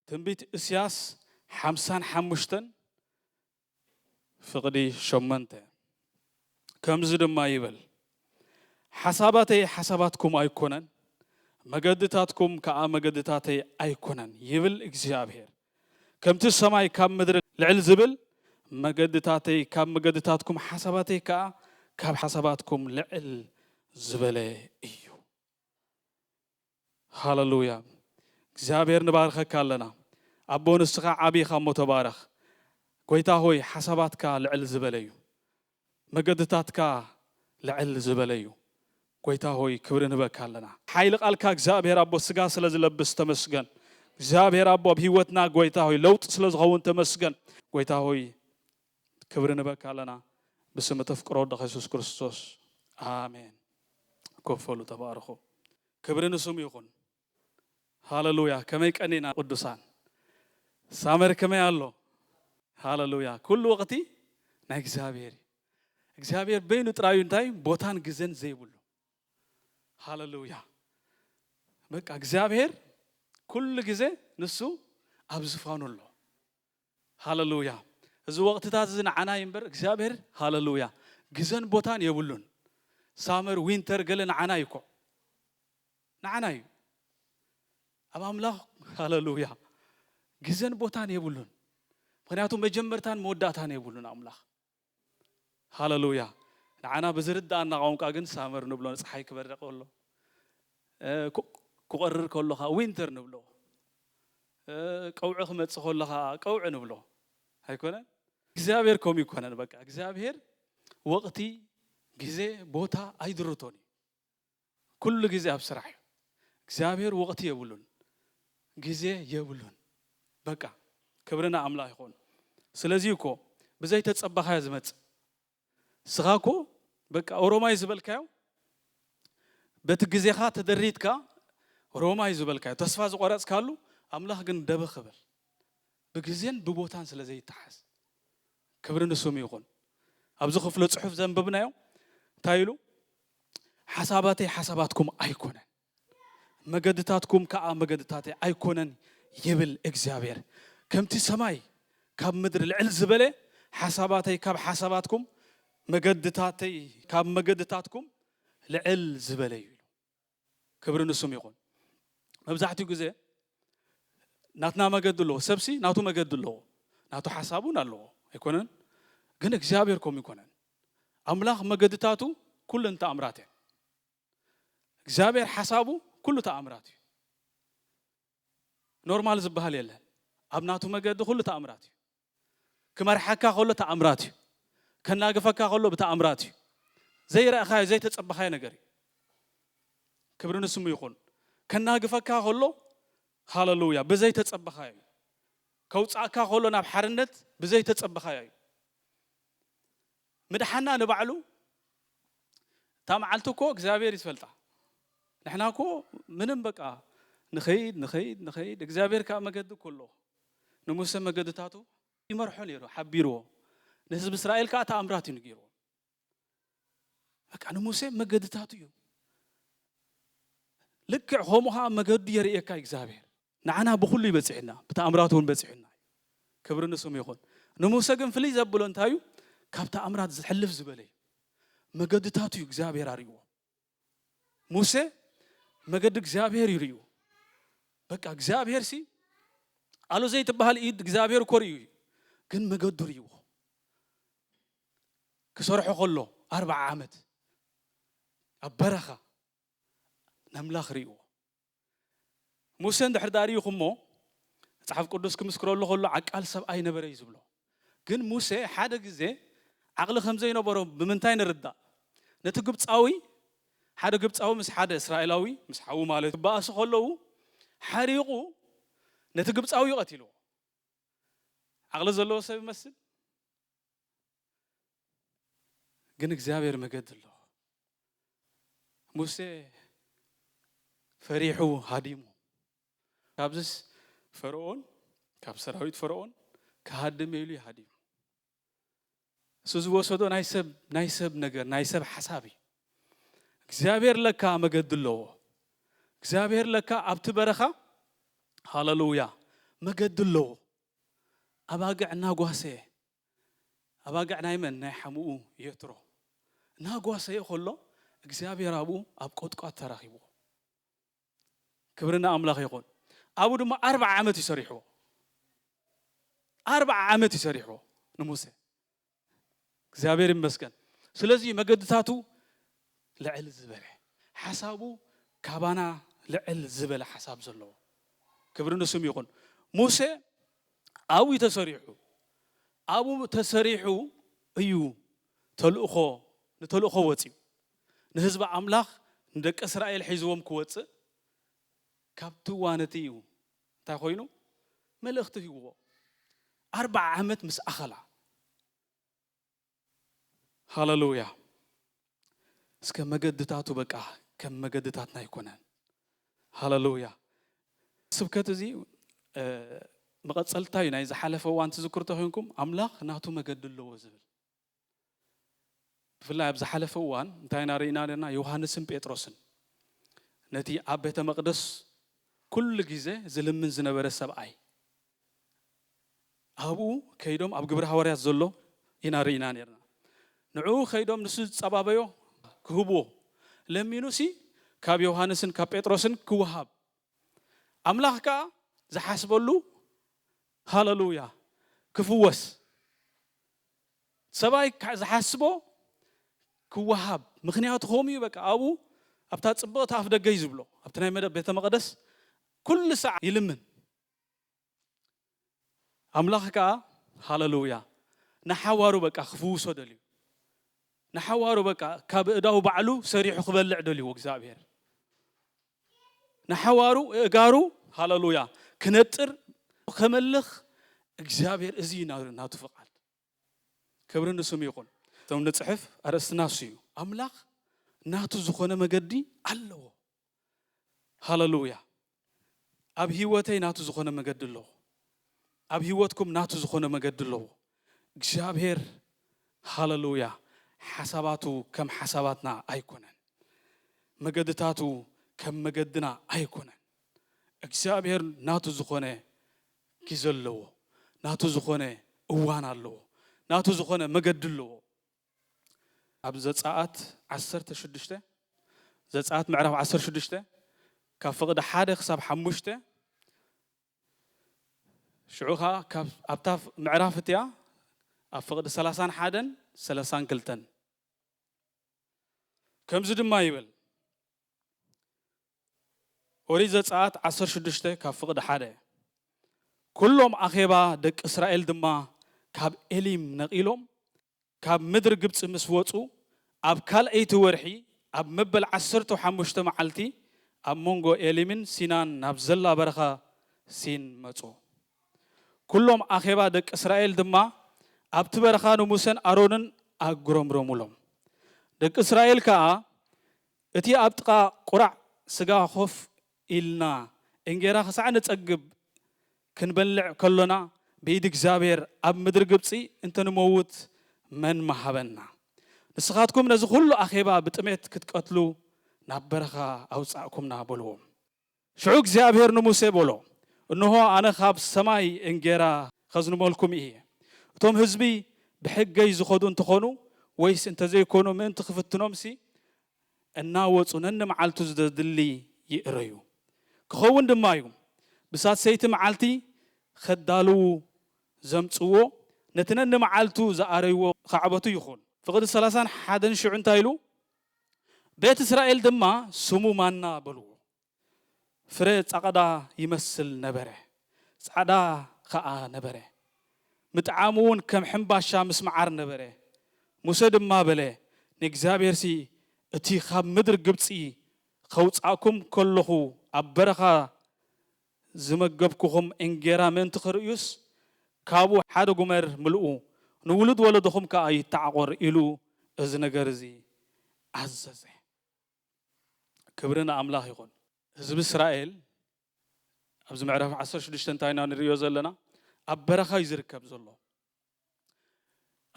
ትንቢት እስያስ ሓምሳን ሓሙሽተን ፍቕዲ ሸመንተ ከምዚ ድማ ይብል ሓሳባተይ ሓሳባትኩም ኣይኮነን መገድታትኩም ከዓ መገድታተይ ኣይኮነን ይብል እግዚኣብሔር ከምቲ ሰማይ ካብ ምድሪ ልዕል ዝብል፣ መገድታተይ ካብ መገድታትኩም ሓሳባተይ ከኣ ካብ ሓሳባትኩም ልዕል ዝበለ እዩ። ሃለሉያ እግዚኣብሔር ንባርኸካ ኣለና ኣቦ ንስኻ ዓቢ ኢኻሞ ተባረኽ ጎይታ ሆይ ሓሳባትካ ልዕል ዝበለ እዩ መገድታትካ ልዕል ዝበለ እዩ ጎይታ ሆይ ክብሪ ንህበካ ኣለና። ሓይሊ ቃልካ እግዚኣብሔር ኣቦ ስጋ ስለ ዝለብስ ተመስገን እግዚኣብሔር ኣቦ ኣብ ህይወትና ጎይታ ሆይ ለውጢ ስለ ዝኸውን ተመስገን ጎይታ ሆይ ክብሪ ንህበካ ኣለና ብስም እተፍቅሮ ወድኻ የሱስ ክርስቶስ ኣሜን ኮፍ በሉ ተባረኹ ክብሪ ንስሙ ይኹን። ሃለሉያ ከመይ ቀኒእና ቅዱሳን ሳመር ከመይ ኣሎ ሃለሉያ ኩሉ ወቅቲ ናይ እግዚኣብሔር እዩ እግዚኣብሔር በይኑ ጥራዩ እንታይ ቦታን ግዘን ዘይብሉ ሃለሉያ በቃ እግዚኣብሔር ኩሉ ግዜ ንሱ ኣብ ዝፋኑ ኣሎ ሃለሉያ እዚ ወቅትታት እዚ ንዓና እዩ እምበር እግዚኣብሔር ሃለሉያ ግዘን ቦታን የብሉን ሳመር ዊንተር ገለ ንዓና እዩ እኮ ንዓና እዩ ኣብ ኣምላኽ ሃለሉያ ግዘን ቦታን የብሉን ምክንያቱ መጀመርታን መወዳእታን የብሉን ኣምላኽ ሃለሉያ ንዓና ብዝርድኣና ቋንቋ ግን ሳመር ንብሎ ንጸሓይ ክበርቕ ከሎ ክቆርር ከሎ ከኣ ዊንተር ንብሎ ቀውዒ ክመጽእ ከሎ ከኣ ቀውዒ ንብሎ ኣይኮነን እግዚኣብሔር ከምኡ ይኮነን በቃ እግዚኣብሔር ወቕቲ ግዜ ቦታ ኣይድርቶን እዩ ኩሉ ግዜ ኣብ ስራሕ እዩ እግዚኣብሔር ወቅቲ የብሉን ግዜ የብሉን በቃ ክብሪ ንኣምላክ ይኩን ስለዚ እዩ እኮ ብዘይ ተጸበካዮ ዝመጽእ ንስካ እኮ በቃ ኦሮማይ ዝበልካዮ በቲ ግዜካ ተደሪትካ ሮማይ ዝበልካዮ ተስፋ ዝቆረጽካሉ ኣምላክ ግን ደበ ክብል ብግዜን ብቦታን ስለ ዘይተሓዝ ክብሪ ንስሙ ይኹን። ኣብዚ ክፍለ ጽሑፍ ዘንብብናዮ እንታይ ኢሉ? ሓሳባተይ ሓሳባትኩም ኣይኮነን፣ መገድታትኩም ከኣ መገድታተይ ኣይኮነን ይብል እግዚኣብሔር። ከምቲ ሰማይ ካብ ምድሪ ልዕል ዝበለ ሓሳባተይ ካብ ሓሳባትኩም መገድታተይ ካብ መገድታትኩም ልዕል ዝበለ እዩ ኢሉ። ክብሪ ንሱም ይኹን መብዛሕትኡ ግዜ ናትና መገዲ ኣለዎ ሰብሲ ናቱ መገዲ ኣለዎ ናቱ ሓሳብ እውን ኣለዎ ኣይኮነን ግን እግዚኣብሔር ከምኡ ይኮነን ኣምላኽ መገድታቱ ኩለን ተኣምራት እየን እግዚኣብሔር ሓሳቡ ኩሉ ተኣምራት እዩ ኖርማል ዝበሃል የለን ኣብ ናቱ መገዲ ኩሉ ተኣምራት እዩ ክመርሓካ ከሎ ተኣምራት እዩ። ከናግፈካ ከሎ ብተኣምራት እዩ። ዘይረእኻዮ ዘይተጸበኻዮ ነገር እዩ። ክብሪ ንስሙ ይኹን። ከናግፈካ ከሎ ሃለሉያ ብዘይተጸበኻዮ እዩ። ከውጻእካ ከሎ ናብ ሓርነት ብዘይተጸበኻዮ እዩ። ምድሓና ንባዕሉ እታ መዓልቲ እኮ እግዚኣብሔር እዩ ዝፈልጣ ንሕና እኮ ምንም በቃ ንኸይድ ንኸይድ ንኸይድ እግዚኣብሔር ከዓ መገዲ እኮ ኣለዎ ንሙሴ መገድታቱ ይመርሖ ነይሩ ሓቢርዎ ንህዝቢ እስራኤል ከዓ ተኣምራት እዩ ንገይርዎ በቃ ንሙሴ መገድታቱ እዩ ልክዕ ከምኡ ከዓ መገዱ የርእየካ እግዚኣብሔር ንዓና ብኹሉ እዩ በጺሑና፣ ብተኣምራቱ እውን በጺሑና እዩ። ክብሪ ንስሙ ይኹን። ንሙሴ ግን ፍልይ ዘብሎ እንታይ እዩ? ካብ ተኣምራት ዝሕልፍ ዝበለ እዩ። መገድታቱ እዩ እግዚኣብሔር ኣርእይዎ። ሙሴ መገዲ እግዚኣብሔር እዩ ርእዩ። በቃ እግዚኣብሔር ሲ ኣሉ ዘይትበሃል ኢድ እግዚኣብሔር እኮ ርእዩ እዩ። ግን መገዱ ርእይዎ ክሰርሖ ከሎ ኣርባዓ ዓመት ኣብ በረኻ ነምላኽ ርእይዎ ሙሴ እንድሕር ድኣ ርኢኹሞ መጽሓፍ ቅዱስ ክምስክረሉ ከሎ ዓቃል ሰብኣይ ነበረ እዩ ዝብሎ። ግን ሙሴ ሓደ ግዜ ዓቕሊ ከም ዘይነበሮ ብምንታይ ንርዳእ? ነቲ ግብጻዊ ሓደ ግብጻዊ ምስ ሓደ እስራኤላዊ ምስ ሓዉ ማለት እዩ ክበኣሱ ከለዉ ሓሪቑ ነቲ ግብጻዊ ቀቲልዎ። ዓቕሊ ዘለዎ ሰብ ይመስል? ግን እግዚኣብሔር መገዲ ኣሎ ሙሴ ፈሪሑ ሃዲሙ ካብዚስ ፈርኦን ካብ ሰራዊት ፈርኦን ክሃድም ኢሉ ይሃዲሙ እሱ ዝወሰዶ ናይ ሰብ ናይ ሰብ ነገር ናይ ሰብ ሓሳብ እዩ እግዚኣብሔር ለካ መገዲ ኣለዎ እግዚኣብሔር ለካ ኣብቲ በረኻ ሃለሉያ መገዲ ኣለዎ ኣባግዕ እናጓሰየ ኣባግዕ ናይ መን? ናይ ሓሙኡ የትሮ እናጓሰየ ከሎ እግዚኣብሄር ኣብኡ ኣብ ቈጥቋጥ ተራኺብዎ። ክብሪ ንኣምላኽ ይኹን። ኣብኡ ድማ ኣርብዓ ዓመት እዩ ሰሪሕዎ። ኣርብዓ ዓመት እዩ ሰሪሕዎ ንሙሴ። እግዚኣብሄር ይመስገን። ስለዚ እዩ መገድታቱ ልዕል ዝበለ፣ ሓሳቡ ካባና ልዕል ዝበለ ሓሳብ ዘለዎ። ክብሪ ንስሙ ይኹን። ሙሴ ኣብኡ እዩ ተሰሪሑ። ኣብኡ ተሰሪሑ እዩ ተልእኾ ንተልእኾ ወጺኡ። ንህዝቢ ኣምላኽ ንደቂ እስራኤል ሒዝዎም ክወጽእ ካብቲ እዋን እቲ እዩ እንታይ ኮይኑ መልእኽቲ ሂብዎ። ኣርብዓ ዓመት ምስ ኣኸላ። ሃለሉያ እስከ መገድታቱ በቃ ከም መገድታትና ኣይኮነን ሃለሉያ ስብከት እዚ መቐፀልታ እዩ ናይ ዝሓለፈ እዋን ትዝክሩ ተኮይንኩም ኣምላኽ ናቱ መገዲ ኣለዎ ዝብል ብፍላይ ኣብ ዝሓለፈ እዋን እንታይ ኢና ርኢና ኣለና ዮሃንስን ጴጥሮስን ነቲ ኣብ ቤተ መቕደስ ኩሉ ግዜ ዝልምን ዝነበረ ሰብኣይ ኣብኡ ከይዶም ኣብ ግብሪ ሃዋርያት ዘሎ ኢና ርኢና ኔርና ንዕኡ ከይዶም ንሱ ዝጸባበዮ ክህብዎ ለሚኑሲ ካብ ዮውሃንስን ካብ ጴጥሮስን ክውሃብ ኣምላኽ ከኣ ዝሓስበሉ ሃለሉያ ክፍወስ ሰብኣይ ዝሓስቦ ክውሃብ ምኽንያቱ ከምኡ እዩ በቃ ኣብኡ ኣብታ ጽብቕቲ ኣፍ ደገ እዩ ዝብሎ ኣብቲ ናይ ቤተ መቐደስ ኩሉ ሰዓ ይልምን ኣምላኽ ከኣ ሃለሉያ ንሓዋሩ በቃ ክፍውሶ ደልዩ ንሓዋሩ በቃ ካብ እዳው ባዕሉ ሰሪሑ ክበልዕ ደልዎ እግዚኣብሔር ንሓዋሩ እጋሩ ሃለሉያ ክነጥር ከመልኽ እግዚኣብሔር እዚ ናቱ ፍቃድ ክብሪ ንስሙ ይኹን። እቶም ንጽሕፍ ኣርእስቲ ናሱ እዩ። ኣምላኽ ናቱ ዝኾነ መገዲ ኣለዎ። ሃለሉያ ኣብ ህይወተይ ናቱ ዝኾነ መገዲ ኣለዎ። ኣብ ህይወትኩም ናቱ ዝኾነ መገዲ ኣለዎ። እግዚኣብሔር ሃለሉያ ሓሳባቱ ከም ሓሳባትና ኣይኮነን። መገድታቱ ከም መገድና ኣይኮነን። እግዚኣብሔር ናቱ ዝኾነ ጊዘ ኣለዎ ናቱ ዝኾነ እዋን ኣለዎ ናቱ ዝኾነ መገዲ ኣለዎ ኣብ ዘጻኣት ዓሰርተ ሽዱሽተ ዘጻኣት ምዕራፍ ዓሰርተ ሽዱሽተ ካብ ፍቕዲ ሓደ ክሳብ ሓሙሽተ ሽዑ ኸኣ ካብ ኣብታ ምዕራፍ እቲኣ ኣብ ፍቕዲ ሰላሳን ሓደን ሰላሳን ክልተን ከምዚ ድማ ይብል ኦሪት ዘጸኣት ዓሰርተ ሽዱሽተ ካብ ፍቕዲ ሓደ ኩሎም ኣኼባ ደቂ እስራኤል ድማ ካብ ኤሊም ነቒሎም ካብ ምድሪ ግብጺ ምስ ወጹ ኣብ ካልኣይቲ ወርሒ ኣብ መበል ዓሰርተው ሓሙሽተ መዓልቲ ኣብ መንጎ ኤሊምን ሲናን ናብ ዘላ በረኻ ሲን መጹ። ኩሎም ኣኼባ ደቂ እስራኤል ድማ ኣብቲ በረኻ ንሙሴን ኣሮንን ኣጉረምረሙሎም። ደቂ እስራኤል ከኣ እቲ ኣብ ጥቓ ቁራዕ ስጋ ኮፍ ኢልና እንጌራ ክሳዕ ንጸግብ ክንበልዕ ከሎና ብኢድ እግዚኣብሔር ኣብ ምድሪ ግብጺ እንተ ንመውት መን ምሃበና? ንስኻትኩም ነዚ ኹሉ ኣኼባ ብጥሜት ክትቀትሉ ናብ በረኻ ኣውጻእኩምና በልዎም። ሽዑ እግዚኣብሄር ንሙሴ በሎ፣ እንሆ፣ ኣነ ኻብ ሰማይ እንጌራ ኸዝንበልኩም እየ። እቶም ህዝቢ ብሕገይ ዝኸዱ እንተ ዀኑ ወይስ እንተ ዘይኰኑ ምእንቲ ኽፍትኖምሲ፣ እናወጹ ነንመዓልቱ ዘድሊ ይእረዩ። ክኸውን ድማ እዩ፣ ብሳልሰይቲ መዓልቲ ኼዳልዉ ዘምጽእዎ፣ ነቲ ነንመዓልቱ ዝኣረይዎ ኻዕበቱ ይኹን። ፍቕዲ ሰላሳን ሓደን ሽዑ እንታይ ኢሉ? ቤት እስራኤል ድማ ስሙ ማና በልዎ። ፍረ ጸቕዳ ይመስል ነበረ፣ ጻዕዳ ኸኣ ነበረ፣ ምጥዓሙውን ከም ሕምባሻ ምስ መዓር ነበረ። ሙሴ ድማ በለ፣ ንእግዚኣብሄርሲ እቲ ኻብ ምድሪ ግብጺ ኸውጻእኩም ከሎኹ ኣብ በረኻ ዝመገብኩኹም እንጌራ ምእንቲ ኺርእዩስ፣ ካብኡ ሓደ ጉመር ምልኡ፣ ንውሉድ ወለዶኹም ከኣ ይተዓቖር ኢሉ እዚ ነገር እዚ ኣዘዘ። ክብሪ ንኣምላኽ ይኹን! ህዝቢ እስራኤል፣ ኣብዚ ምዕራፍ ዓሰርተ ሽዱሽተ እንታይ ኢና ንርእዮ ዘለና? ኣብ በረኻ እዩ ዚርከብ ዘሎ።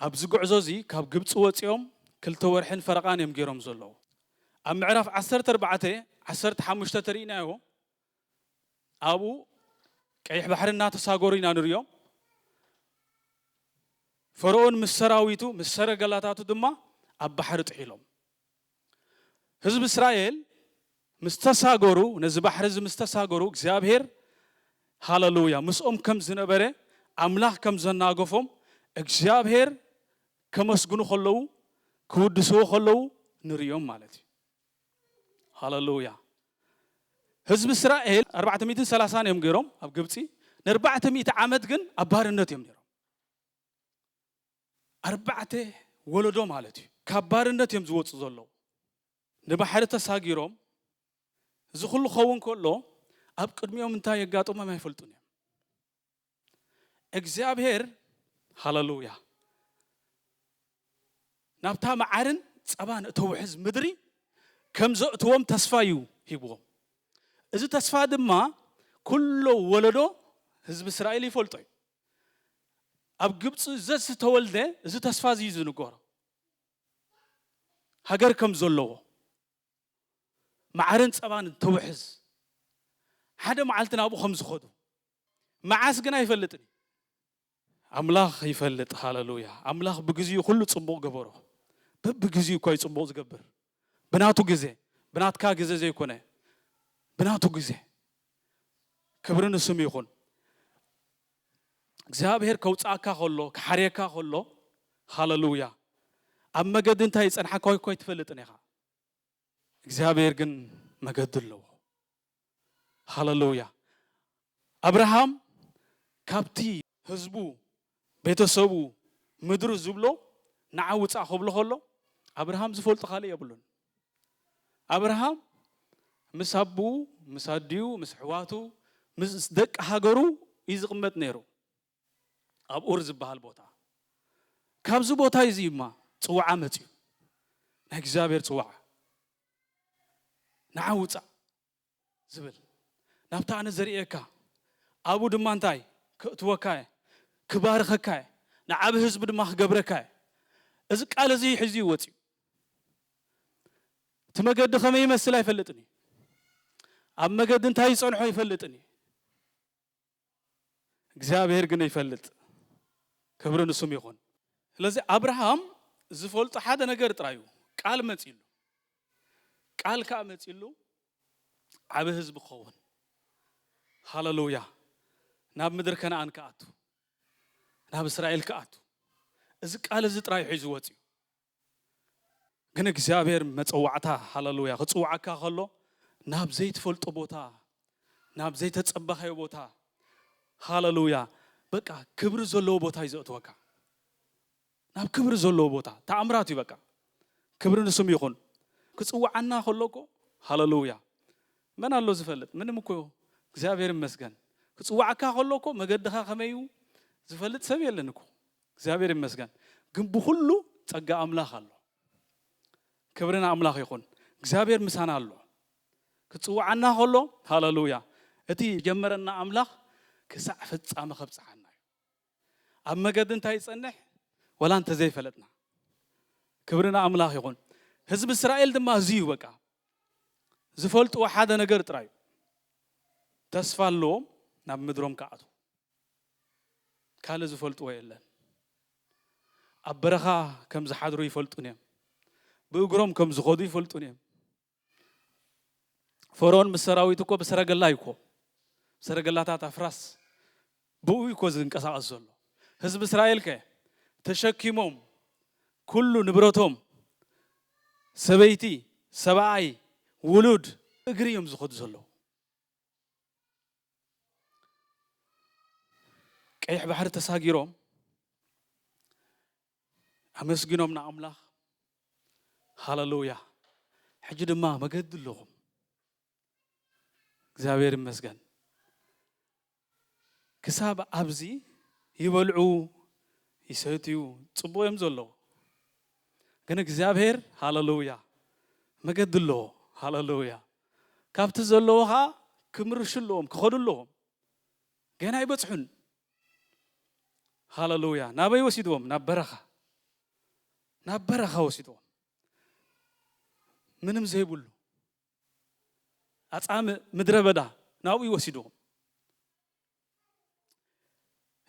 ኣብዚ ጉዕዞ እዚ ካብ ግብጺ ወጺኦም ክልተ ወርሒን ፈረቓን እዮም ጌሮም ዘለዉ። ኣብ ምዕራፍ ዓሰርተ ኣርባዕተ፣ ዓሰርተ ሓሙሽተ ተሪኢናዮ ኣብኡ ቀይሕ ባሕሪ እናተሳገሩ ኢና ንርእዮም። ፈርኦን ምስ ሰራዊቱ ምስ ሰረገላታቱ ድማ ኣብ ባሕሪ ጥሒሎም። ህዝቢ እስራኤል ምስ ተሳገሩ፣ ነዚ ባሕሪ እዚ ምስ ተሳገሩ፣ እግዚኣብሄር ሃለሉያ ምስኦም ከም ዝነበረ፣ ኣምላኽ ከም ዘናገፎም፣ እግዚኣብሄር ከመስግኑ ከለዉ፣ ክውድስዎ ከለዉ ንርእዮም ማለት እዩ። ሃለሉያ ህዝቢ እስራኤል ኣርባዕተ ሚእትን ሰላሳን እዮም ገይሮም ኣብ ግብፂ፣ ንኣርባዕተ ሚእቲ ዓመት ግን ኣብ ባርነት እዮም ነይሮም። ኣርባዕተ ወለዶ ማለት እዩ ካብ ባርነት እዮም ዝወጹ ዘለዉ ንባሕሪ ተሳጊሮም እዚ ኩሉ ክኸውን ከሎ ኣብ ቅድሚኦም እንታይ የጋጥሞም ኣይፈልጡን እዮም እግዚኣብሔር ሃለሉያ ናብታ መዓርን ጸባን እተውሕዝ ምድሪ ከም ዘእትዎም ተስፋ እዩ ሂብዎም እዚ ተስፋ ድማ ኩሎ ወለዶ ህዝቢ እስራኤል ይፈልጦ እዩ ኣብ ግብጺ ዘዝተወልደ እዚ ተስፋ እዚ እዩ ዝንገሮ። ሃገር ከም ዘለዎ መዓርን ጸባን እንተውሕዝ ሓደ መዓልቲ ናብኡ ከም ዝኸዱ መዓስ ግን ኣይፈልጥን እዩ። ኣምላኽ ይፈልጥ ሃለሉያ ኣምላኽ ብግዚኡ ኩሉ ጽቡቕ ገበሮ። በብግዚኡ እኳ እዩ ጽቡቕ ዝገብር። ብናቱ ግዜ ብናትካ ግዘ ዘይኮነ ብናቱ ግዜ ክብሪ ንስሙ ይኹን እግዚኣብሔር ከውጽኣካ ከሎ ክሓርየካ ከሎ ሃለሉያ ኣብ መገዲ እንታይ ይጸንሓካ እኮ ኣይትፈልጥን ኢኻ እግዚኣብሔር ግን መገዲ ኣለዎ ሃለሉያ ኣብርሃም ካብቲ ህዝቡ ቤተሰቡ ምድሩ ዝብሎ ንዓ ውጻእ ክብሎ ከሎ ኣብርሃም ዝፈልጦ ካልእ የብሉን ኣብርሃም ምስ ኣቡኡ ምስ ኣዲኡ ምስ ኣሕዋቱ ምስ ደቂ ሃገሩ እዩ ዝቕመጥ ነይሩ ኣብ ኡር ዝበሃል ቦታ ካብዚ ቦታ እዚ እዩማ ፅውዓ መፅዩ ናይ እግዚኣብሔር ፅዋዓ ንዓ ውፃእ ዝብል ናብታ ኣነ ዘርእየካ ኣብኡ ድማ እንታይ ከእትወካ እየ ክባርኸካ እየ ንዓብ ህዝቢ ድማ ክገብረካ እየ እዚ ቃል እዚ ሒዙ እዩ ወፅዩ እቲ መገዲ ከመይ ይመስል ኣይፈልጥን እዩ ኣብ መገዲ እንታይ ይፀንሖ ኣይፈልጥን እዩ እግዚኣብሔር ግን ይፈልጥ ክብሪ ንሱም ይኹን። ስለዚ ኣብርሃም ዝፈልጦ ሓደ ነገር ጥራዩ ቃል መጺሉ ቃል ከኣ መጺሉ ዓቢ ህዝቢ ክኸውን ሃለሉያ ናብ ምድሪ ከነኣን ክኣቱ ናብ እስራኤል ክኣቱ እዚ ቃል እዚ ጥራዩ ሒዙ ወጺኡ ግን እግዚኣብሔር መጸዋዕታ ሃለሉያ ክጽውዓካ ከሎ ናብ ዘይትፈልጦ ቦታ ናብ ዘይተጸበኻዮ ቦታ ሃለሉያ በቃ ክብሪ ዘለዎ ቦታ እዩ ዘእትወካ ናብ ክብሪ ዘለዎ ቦታ ተኣምራት እዩ በቃ ክብሪ ንስም ይኹን ክጽውዓና ከሎ እኮ ሃለሉያ መን ኣሎ ዝፈልጥ ምንም እኮ እግዚኣብሔር ይመስገን ክጽዋዕካ ከሎ እኮ መገድኻ ከመይ እዩ ዝፈልጥ ሰብ የለን እኮ እግዚኣብሔር ይመስገን ግን ብኩሉ ፀጋ ኣምላክ ኣሎ ክብሪ ንኣምላክ ይኩን እግዚኣብሔር ምሳና ኣሎ ክፅውዓና ከሎ ሃለሉያ እቲ ዝጀመረና ኣምላክ ክሳዕ ፍፃመ ከብፅሓና እዩ ኣብ መገዲ እንታይ ይፀንሕ ወላ እንተዘይፈለጥና ክብሪ ንኣምላክ ይኩን ህዝቢ እስራኤል ድማ እዚ እዩ በቃ ዝፈልጥዎ ሓደ ነገር ጥራዩ ተስፋ ኣለዎም ናብ ምድሮም ክኣትዉ ካልእ ዝፈልጥዎ የለን። ኣብ በረኻ ከም ዝሓድሩ ይፈልጡን እዮም። ብእግሮም ከም ዝኸዱ ይፈልጡን እዮም። ፈርኦን ምስ ሰራዊቱ እኮ ብሰረገላ እዩ እኮ ሰረገላታት ኣፍራስ ብኡ እዩ እኮ ዝንቀሳቐስ ዘሎ። ህዝቢ እስራኤል ከ ተሸኪሞም ኩሉ ንብረቶም ሰበይቲ፣ ሰብኣይ፣ ውሉድ እግሪ እዮም ዝኸዱ ዘለዉ። ቀይሕ ባሕሪ ተሳጊሮም ኣመስግኖም ንኣምላኽ ሃለሉያ ሕጂ ድማ መገዲ ኣለኹም እግዚኣብሔር ይመስገን ክሳብ ኣብዚ ይበልዑ ይሰትዩ ፅቡቅ እዮም ዘለዎ ግን እግዚኣብሔር ሃለሉያ መገዲ ኣለዎ ሃለሉያ ካብቲ ዘለዎ ከኣ ክምርሹ ኣለዎም ክኸዱ ኣለዎም ገና ኣይበጽሑን ሃለሉያ ናበይ ወሲድዎም ናብ በረኻ ናብ በረኻ ወሲድዎም ምንም ዘይብሉ ኣጻምእ ምድረ በዳ ናብኡ ወሲድዎም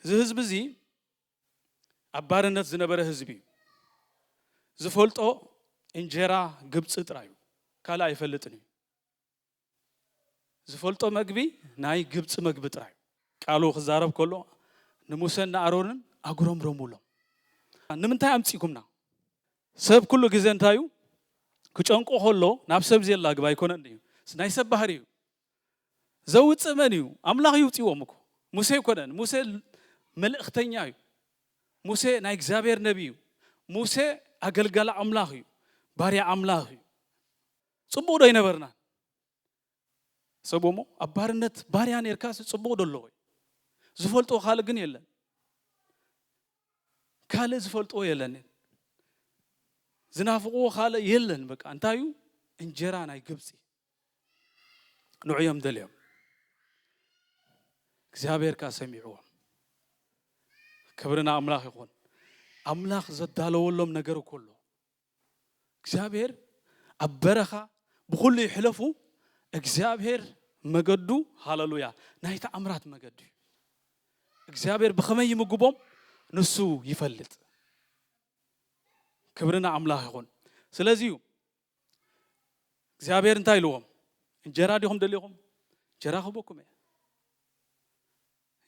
እዚ ህዝቢ እዚ ኣብ ባርነት ዝነበረ ህዝቢ እዩ። ዝፈልጦ እንጀራ ግብፂ ጥራይ እዩ፣ ካልእ ኣይፈልጥን እዩ። ዝፈልጦ መግቢ ናይ ግብፂ መግቢ ጥራይ እዩ። ቃሉ ክዛረብ ከሎ ንሙሰን ንኣሮንን ኣጉረምረሙሎም። ንምንታይ ኣምፂእኩምና? ሰብ ኩሉ ግዜ እንታይ እዩ ክጨንቆ ከሎ ናብ ሰብ ዜላግብ ኣይኮነን እዩ፣ ናይ ሰብ ባህሪ እዩ። ዘውጽእ መን እዩ? ኣምላኽ እዩ ውጺዎም እኮ ሙሴ ኣይኮነን። ሙሴ መልእኽተኛ እዩ። ሙሴ ናይ እግዚኣብሔር ነቢ እዩ። ሙሴ ኣገልጋሊ ኣምላኽ እዩ። ባርያ ኣምላኽ እዩ። ጽቡቕ ዶ ኣይነበርናን? ሰብሞ ኣብ ባርነት ባርያ ነርካስ ጽቡቕ ዶ ኣለዎ? ዝፈልጦ ካልእ ግን የለን። ካልእ ዝፈልጥዎ የለን ዝናፍቕዎ ካልእ የለን በቃ እንታይ እዩ እንጀራ ናይ ግብፂ ንዑ እዮም ደልዮም እግዚኣብሔር ከዓ ሰሚዕዎም ክብሪ ንኣምላኽ ይኹን ኣምላኽ ዘዳለወሎም ነገር እኮ ኣሎ እግዚኣብሔር ኣብ በረኻ ብኩሉ ይሕለፉ እግዚኣብሔር መገዱ ሃለሉያ ናይ ተኣምራት መገዱ እዩ እግዚኣብሔር ብኸመይ ይምግቦም ንሱ ይፈልጥ ክብሪ ንኣምላኽ ይኹን ስለዚ እዩ እግዚኣብሔር እንታይ ኢልዎም? እንጀራ ዲኹም ደሊኹም? እንጀራ ክህበኩም እየ።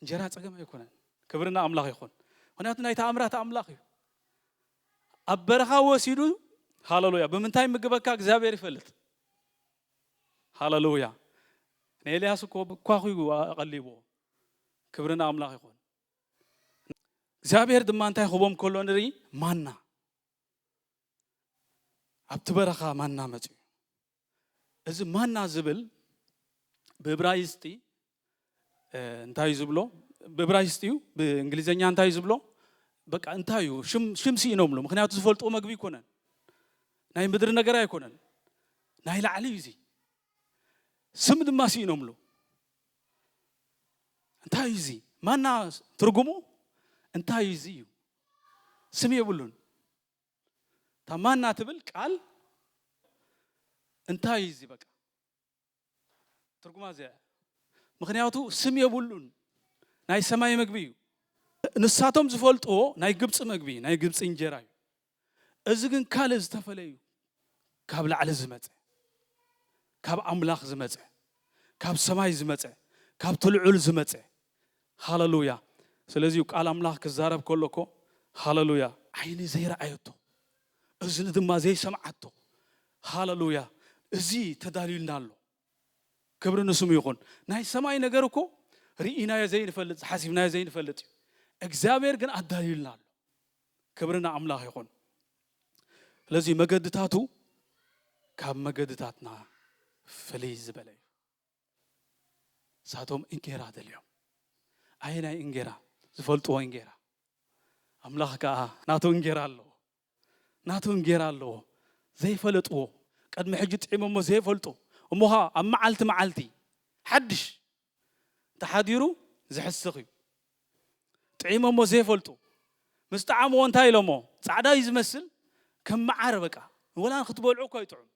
እንጀራ ፀገም ኣይኮነን። ክብሪ ንኣምላኽ ይኹን። ምክንያቱ ናይ ተኣምራት ኣምላኽ እዩ። ኣብ በረኻ ወሲዱ ሃለሉያ ብምንታይ ምግበካ እግዚኣብሔር ይፈልጥ። ሃለሉያ ንኤልያስ እኮ ኳኹዩ ኣቐሊቦ። ክብሪ ንኣምላኽ ይኹን። እግዚኣብሔር ድማ እንታይ ክህቦም ከሎ ንርኢ ማና ኣብቲ በረኻ ማና መጺኡ። እዚ ማና ዝብል ብእብራይስጢ እንታይ ዝብሎ ብእብራይስጢ እዩ ብእንግሊዝኛ እንታይ ዝብሎ በቃ እንታይ እዩ ሽም ስኢኖምሉ ምክንያቱ ዝፈልጥዎ መግቢ ኣይኮነን ናይ ምድሪ ነገር ኣይኮነን ናይ ላዕሊ እዩ እዚ ስም ድማ ስኢኖምሉ እንታይ እዩ እዚ ማና ትርጉሙ እንታይ እዩ እዚ እዩ ስም የብሉን እታ ማና ትብል ቃል እንታይ እዩ እዚ በቃ ትርጉማ እዚኣ እያ። ምክንያቱ ስም የብሉን ናይ ሰማይ መግቢ እዩ። ንሳቶም ዝፈልጥዎ ናይ ግብፂ መግቢ ናይ ግብፂ እንጀራ እዩ። እዚ ግን ካልእ ዝተፈለዩ ካብ ላዕሊ ዝመጸ፣ ካብ ኣምላኽ ዝመጸ፣ ካብ ሰማይ ዝመጸ፣ ካብቲ ልዑል ዝመጸ። ሃለሉያ! ስለዚ እዩ ቃል ኣምላኽ ክዛረብ ከሎ እኮ ሃለሉያ! ዓይኒ ዘይረኣየቶ፣ እዝኒ ድማ ዘይሰምዓቶ፣ ሃለሉያ! እዚ ተዳልዩልና ኣሎ። ክብሪ ንስሙ ይኹን። ናይ ሰማይ ነገር እኮ ርኢናዮ ዘይንፈልጥ ሓሲብናዮ ዘይንፈልጥ እዩ። እግዚኣብሔር ግን ኣዳልዩልና ኣሎ። ክብሪ ንኣምላኽ ይኹን። ስለዚ መገድታቱ ካብ መገድታትና ፍልይ ዝበለ እዩ። ንሳቶም እንጌራ ደልዮም ኣየናይ እንጌራ? ዝፈልጥዎ እንጌራ። ኣምላኽ ከዓ ናቱ እንጌራ ኣለዎ። ናቱ እንጌራ ኣለዎ ዘይፈለጥዎ ቅድሚ ሕጂ ጥዒሞሞ ዘይፈልጡ እሞ ከኣ ኣብ መዓልቲ መዓልቲ ሓድሽ እንተሓዲሩ ዝሕስኽ እዩ ጥዒሞሞ ዘይፈልጡ ምስ ጠዓምዎ እንታይ ኢሎሞ ጻዕዳ እዩ ዝመስል ከም መዓር በቃ ወላ ንክትበልዑ እኳ ይጥዑም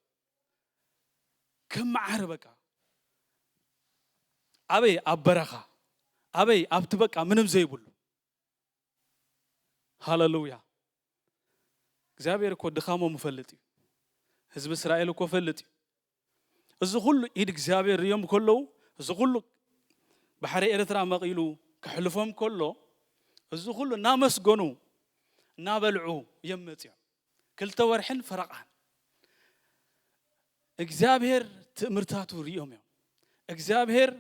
ከም መዓር በቃ ኣበይ ኣብ በረኻ ኣበይ ኣብቲ በቃ ምንም ዘይብሉ ሃለሉያ እግዚኣብሔር እኮ ድኻሞም ይፈልጥ እዩ ህዝቢ እስራኤል እኮ ፈልጥ እዩ እዚ ኩሉ ኢድ እግዚኣብሔር ርዮም ከለዉ እዚ ኩሉ ባሕሪ ኤርትራ መቒሉ ክሕልፎም ከሎ እዚ ኩሉ እናመስገኑ እናበልዑ እዮም መፂኦም ክልተ ወርሕን ፈረቓን እግዚኣብሔር ትእምርታቱ ርዮም እዮም እግዚኣብሔር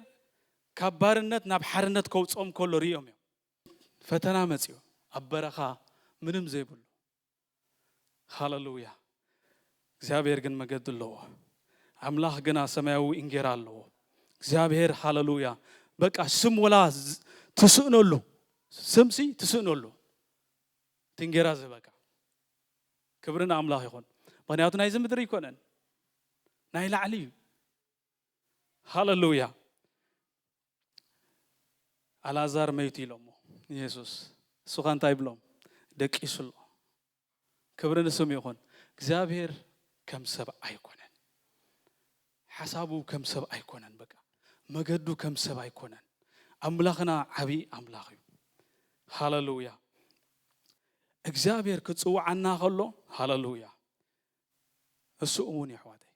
ካብ ባርነት ናብ ሓርነት ከውፅኦም ከሎ ርዮም እዮም ፈተና መጽዩ ኣብ በረኻ ምንም ዘይብሉ ሃለሉያ እግዚኣብሔር ግን መገዲ ኣለዎ ኣምላኽ ግና ሰማያዊ እንጌራ ኣለዎ እግዚኣብሔር ሃለሉያ በቃ ስም ወላ ትስእነሉ ስምሲ ትስእነሉ እቲ እንጌራ ዝበካ ክብሪ ንኣምላኽ ይኹን ምክንያቱ ናይዚ ምድሪ ኣይኮነን ናይ ላዕሊ እዩ ሃለሉያ ኣልኣዛር መይቱ ኢሎሞ ንየሱስ እሱ ኸ እንታይ ይብሎም ደቂሱ ኣሎ ክብሪ ንስም ይኹን እግዚኣብሔር ከም ሰብ ኣይኮነን ሓሳቡ ከም ሰብ ኣይኮነን በቃ መገዱ ከም ሰብ ኣይኮነን ኣምላኽና ዓብዪ ኣምላኽ እዩ ሃለሉያ እግዚኣብሔር ክፅውዓና ከሎ ሃለሉያ እሱ እውን የሕዋተይ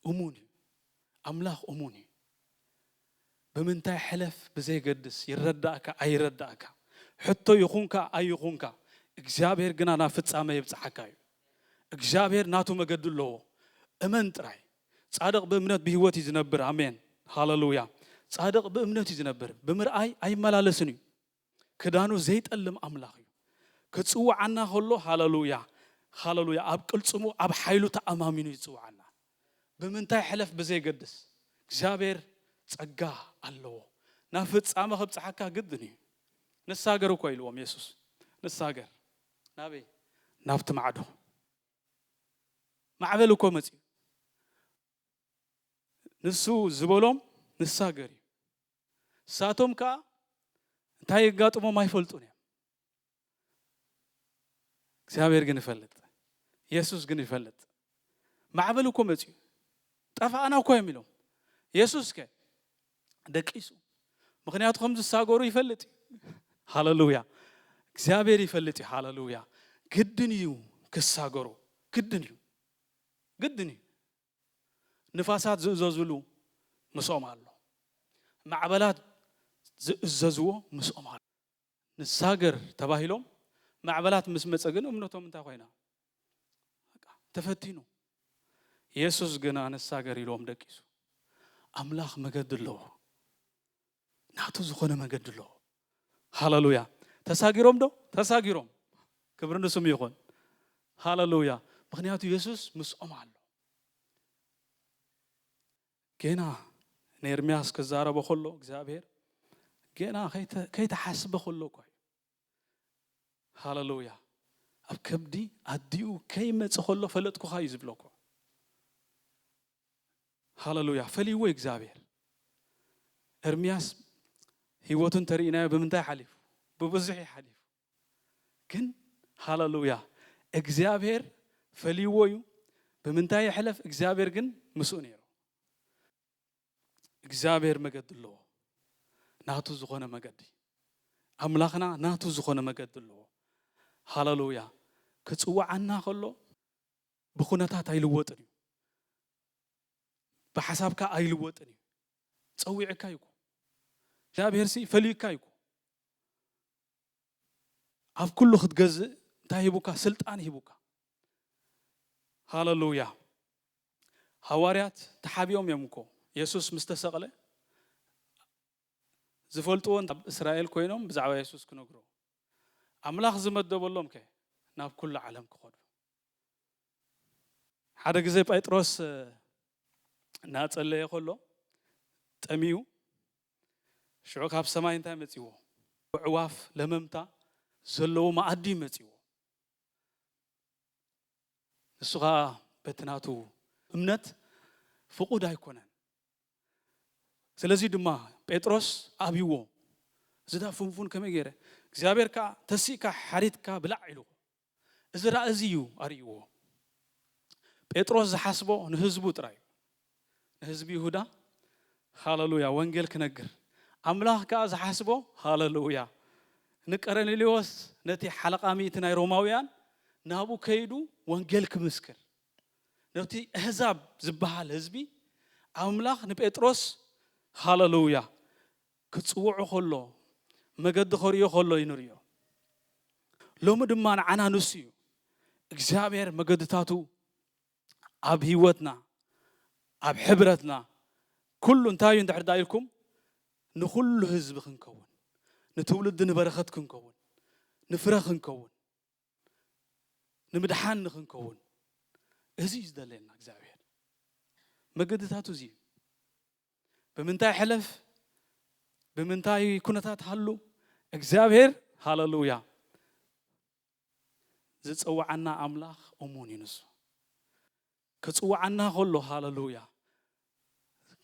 እሙን እዩ ኣምላኽ እሙን እዩ ብምንታይ ሕለፍ ብዘየገድስ ይረዳእካ ኣይረዳእካ ሕቶ ይኹንካ ኣይኹንካ እግዚኣብሔር ግና ናብ ፍጻመ የብጽሓካ እዩ እግዚኣብሔር ናቱ መገዲ ኣለዎ እመን ጥራይ ጻድቕ ብእምነት ብህይወት እዩ ዝነብር ኣሜን ሃለሉያ ጻድቕ ብእምነት እዩ ዝነብር ብምርኣይ ኣይመላለስን እዩ ክዳኑ ዘይጠልም ኣምላኽ እዩ። ክጽውዓና ከሎ ሃለሉያ ሃለሉያ ኣብ ቅልጽሙ ኣብ ሓይሉ ተኣማሚኑ እዩ ዝጽውዓና። ብምንታይ ሕለፍ ብዘየገድስ እግዚኣብሔር ጸጋ ኣለዎ። ናብ ፍጻመ ከብጽሓካ ግድን እዩ። ንሳገር እኮ ኢልዎም የሱስ ንሳገር ናበይ ናብቲ ማዕዶ ማዕበል እኮ መጺኡ ንሱ ዝበሎም ንሳገር እዩ። ንሳቶም ከኣ እንታይ የጋጥሞም ኣይፈልጡን እዮም። እግዚኣብሔር ግን ይፈልጥ፣ የሱስ ግን ይፈልጥ። ማዕበል እኮ መፅዩ ጠፋእና እኮ እዮም ኢሎም። የሱስ ከ ደቂሱ፣ ምክንያቱ ከም ዝሳገሩ ይፈልጥ እዩ። ሃለሉያ! እግዚኣብሔር ይፈልጥ እዩ። ሃለሉያ! ግድን እዩ ክሳገሩ፣ ግድን እዩ፣ ግድን እዩ። ንፋሳት ዝእዘዙሉ ምስኦም ኣሎ፣ ማዕበላት ዝእዘዝዎ ምስኦም ኣሎ። ንሳገር ተባሂሎም ማዕበላት ምስ መጸ ግን እምነቶም እንታይ ኮይና? በቃ ተፈቲኑ። የሱስ ግና ንሳገር ኢልዎም ደቂሱ። ኣምላኽ መገዲ ኣለዎ። ናቱ ዝኾነ መገዲ ኣለዎ። ሃለሉያ ተሳጊሮም ዶ ተሳጊሮም ክብሪ ንስሙ ይኹን ሃለሉያ ምክንያቱ የሱስ ምስኦም ኣሎ ጌና ንኤርምያስ ክዛረቦ ከሎ እግዚኣብሄር ጌና ከይተሓስበ ከሎ እኳ እዩ ሃለሉያ ኣብ ከብዲ ኣዲኡ ከይመጸ ከሎ ፈለጥኩኻ እዩ ዝብሎ እኮ ሃለሉያ ፈሊዎ እዩ እግዚኣብሔር ኤርምያስ ህይወቱ እንተርኢናዮ ብምንታይ ሓሊፉ ብብዙሕ እዩ ሓሊፉ ግን ሃለሉያ እግዚኣብሔር ፈሊዎ እዩ ብምንታይ የሕለፍ እግዚኣብሔር ግን ምስኡ ነይሩ እግዚኣብሔር መገዲ ኣለዎ ናቱ ዝኾነ መገዲ ኣምላኽና ናቱ ዝኾነ መገዲ ኣለዎ ሃለሉያ ክፅውዓና ከሎ ብኩነታት ኣይልወጥን እዩ ብሓሳብካ ኣይልወጥን እዩ ፀዊዕካ ይኩ እግዚኣብሔር ሲ ፈልዩካ ይኩ ኣብ ኩሉ ክትገዝእ እንታይ ሂቡካ ስልጣን ሂቡካ ሃለሉያ ሃዋርያት ተሓቢኦም እዮም እኮ የሱስ ምስ ተሰቕለ ዝፈልጥዎ ኣብ እስራኤል ኮይኖም ብዛዕባ የሱስ ክነግሩ ኣምላኽ ዝመደበሎም ከ ናብ ኩሉ ዓለም ክኸዱ ሓደ ግዜ ጴጥሮስ እናጸለየ ከሎ ጠሚዩ ሽዑ ካብ ሰማይ እንታይ መጺዎ? ኣዕዋፍ ለመምታ ዘለዎ መኣዲ እዩ መጺዎ። ንሱ ኸኣ በቲ ናቱ እምነት ፍቑድ ኣይኮነን። ስለዚ ድማ ጴጥሮስ ኣብይዎ፣ እዚ ድኣ ፍንፉን ከመይ ገይረ፣ እግዚኣብሔር ከኣ ተሲእካ ሓሪድካ ብላዕ ኢልዎ። እዚ ራኢ እዚ እዩ ኣርእይዎ። ጴጥሮስ ዝሓስቦ ንህዝቡ ጥራይ እዩ። ንህዝቢ ይሁዳ ሃለሉያ ወንጌል ክነግር፣ ኣምላኽ ከኣ ዝሓስቦ ሃለሉያ ንቀርኔሌዎስ ነቲ ሓለቓ ሚእቲ ናይ ሮማውያን ናብኡ ከይዱ ወንጌል ክምስክር ነቲ ኣህዛብ ዝበሃል ህዝቢ ኣምላኽ ንጴጥሮስ ሃለሉያ ክጽውዖ ከሎ፣ መገዲ ከርእዮ ከሎ እዩ ንርእዮ። ሎሚ ድማ ንዓና ንሱ እዩ። እግዚኣብሔር መገድታቱ ኣብ ህይወትና፣ ኣብ ሕብረትና ኩሉ እንታይ እዩ እንድሕር ደኣ ኢልኩም ንኹሉ ህዝቢ ክንከውን፣ ንትውልዲ ንበረኸት ክንከውን፣ ንፍረ ክንከውን፣ ንምድሓን ንኽንከውን እዚ እዩ ዝደለየና እግዚኣብሔር መገድታቱ እዚ እዩ ብምንታይ ሕለፍ ብምንታይ ኩነታት ሃሉ እግዚኣብሔር ሃለሉያ ዝፅውዓና ኣምላኽ እሙን እዩ ንሱ ክፅውዓና ከሎ ሃለሉያ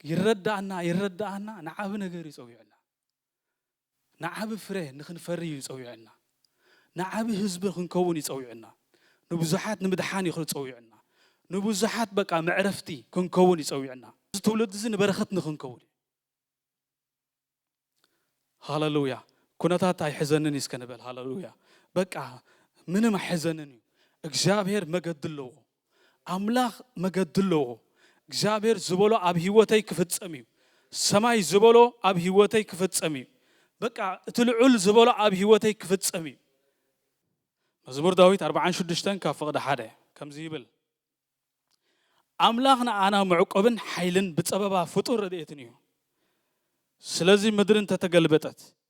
ይረዳእና ይረዳእና ንዓብ ነገር ይፀዊዕና ንዓቢ ፍረ ንኽንፈሪ እዩ ጸዊዑና። ንዓቢ ህዝቢ ክንከውን እዩ ጸዊዑና። ንብዙሓት ንምድሓን እዩ ጸዊዑና። ንብዙሓት በቃ መዕረፍቲ ክንከውን እዩ ጸዊዑና። እዚ ትውልዲ እዚ ንበረኸት ንኽንከውን እዩ። ሃለሉያ! ኩነታት ኣይሕዘንን እዩ እስከ ንበል። ሃለሉያ! በቃ ምንም ኣይሕዘንን እዩ። እግዚኣብሄር መገዲ ኣለዎ። ኣምላኽ መገዲ ኣለዎ እግዚኣብሔር ዝበሎ ኣብ ህይወተይ ክፍጸም እዩ ሰማይ ዝበሎ ኣብ ህይወተይ ክፍጸም እዩ በቃ እቲ ልዑል ዝበሎ ኣብ ህይወተይ ክፍጸም እዩ መዝሙር ዳዊት 46 ካብ ፍቕዲ ሓደ ከምዚ ይብል ኣምላኽ ንኣና መዕቆብን ሓይልን ብፀበባ ፍጡር ረድኤትን እዩ ስለዚ ምድሪ እንተተገልበጠት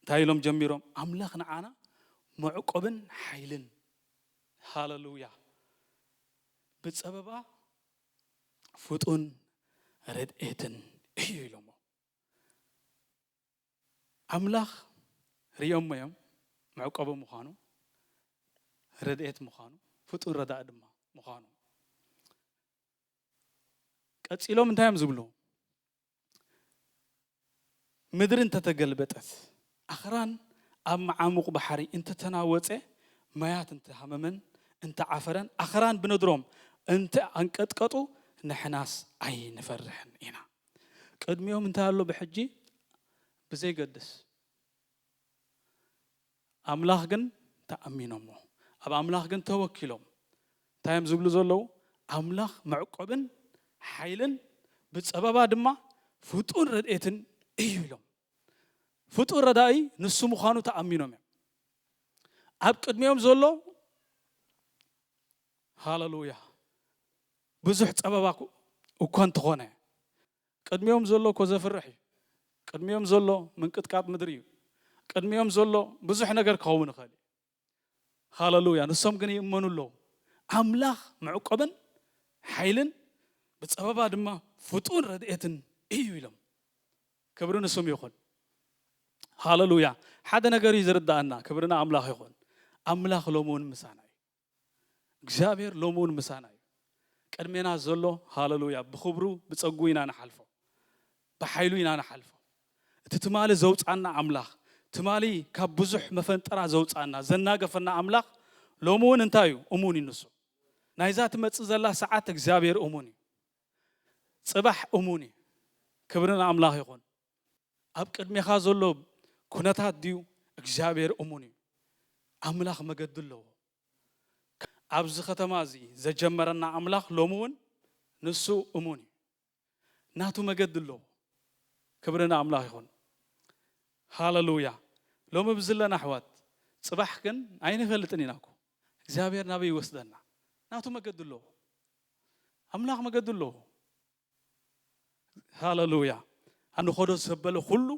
እንታይ ኢሎም ጀሚሮም ኣምላኽ ንዓና መዕቆብን ሓይልን ሃለሉያ ብጸበባ ፍጡን ረድኤትን እዩ ኢሎሞ ኣምላኽ ሪኦሞ እዮም መዕቆቢ ምዃኑ ረድኤት ምዃኑ ፍጡን ረዳእ ድማ ምዃኑ ቀጺሎም እንታይ እዮም ዝብሉ ምድሪ እንተ ተገልበጠት፣ ኣኽራን ኣብ መዓሙቝ ባሕሪ እንተ ተናወጸ፣ ማያት እንተ ሃመመን እንተ ዓፈረን፣ ኣኽራን ብነድሮም እንተ ኣንቀጥቀጡ፣ ንሕናስ ኣይንፈርሕን ኢና። ቅድሚኦም እንታይ ኣሎ ብሕጂ ብዘይገድስ፣ ኣብ ኣምላኽ ግን ተኣሚኖሞ ኣብ ኣምላኽ ግን ተወኪሎም እንታይ እዮም ዝብሉ ዘለዉ ኣምላኽ መዕቆብን ሓይልን ብጸበባ ድማ ፍጡን ረድኤትን እዩ ኢሎም ፍጡን ረዳኢ ንሱ ምዃኑ ተኣሚኖም እዮም ኣብ ቅድሚኦም ዘሎ ሃለሉያ ብዙሕ ጸበባ እኳ እንተኾነ ቅድሚኦም ዘሎ እኮ ዘፍርሕ እዩ ቅድሚኦም ዘሎ ምንቅጥቃጥ ምድሪ እዩ ቅድሚኦም ዘሎ ብዙሕ ነገር ክኸውን ይኽእል እዩ ሃለሉያ ንሶም ግን ይእመኑ ኣለዉ ኣምላኽ መዕቆብን ሓይልን ብፀበባ ድማ ፍጡን ረድኤትን እዩ ኢሎም ክብሪ ንስም ይኹን ሃለሉያ ሓደ ነገር እዩ ዝርዳእና ክብሪ ንኣምላኽ ይኹን ኣምላኽ ሎሚ እውን ምሳና እዩ እግዚኣብሔር ሎሚ እውን ምሳና እዩ ቅድሜና ዘሎ ሃለሉያ ብክብሩ ብፀጉኡ ኢና ንሓልፎ ብሓይሉ ኢና ንሓልፎ እቲ ትማሊ ዘውፃና ኣምላኽ ትማሊ ካብ ብዙሕ መፈንጠራ ዘውፃና ዘናገፈና ኣምላኽ ሎሚ እውን እንታይ እዩ እሙን እዩ ንሱ ናይዛ ትመፅእ ዘላ ሰዓት እግዚኣብሔር እሙን እዩ ፅባሕ እሙን እዩ ክብሪ ንኣምላኽ ይኹን ኣብ ቅድሜኻ ዘሎ ኩነታት ድዩ እግዚኣብሔር እሙን እዩ ኣምላኽ መገዲ ኣለዎ ኣብዚ ከተማ እዚ ዘጀመረና ኣምላኽ ሎሚ እውን ንሱ እሙን እዩ ናቱ መገዲ ኣለዎ ክብሪ ንኣምላኽ ይኹን ሃለሉያ ሎሚ ብዝለና ኣሕዋት ፅባሕ ግን ኣይንፈልጥን ኢና እኮ እግዚኣብሔር ናበይ ይወስደና ናቱ መገዲ ኣለዎ ኣምላኽ መገዲ ኣለዎ ሃለሉያ ኣንኸዶ ዘበለ ኩሉ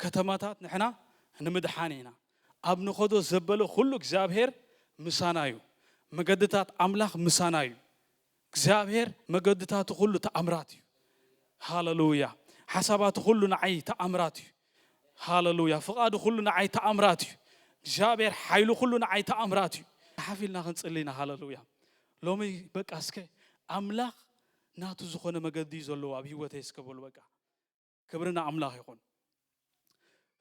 ከተማታት ንሕና ንምድሓን ኢና ኣብ ንኸዶ ዘበለ ኩሉ እግዚኣብሔር ምሳና እዩ መገድታት ኣምላኽ ምሳና እዩ እግዚኣብሔር መገድታቱ ኩሉ ተኣምራት እዩ ሃለሉያ ሓሳባቱ ኩሉ ንዓይ ተኣምራት እዩ ሃለሉያ ፍቓዱ ኩሉ ንዓይ ተኣምራት እዩ እግዚኣብሔር ሓይሉ ኩሉ ንዓይ ተኣምራት እዩ ሓፍ ኢልና ክንፅሊ ኢና ሃለሉያ ሎሚ በቃ እስከ ኣምላኽ ናቱ ዝኾነ መገዲ እዩ ዘለዎ ኣብ ሂወተይ እስከ በሉ በቃ ክብሪ ንኣምላኽ ይኹን።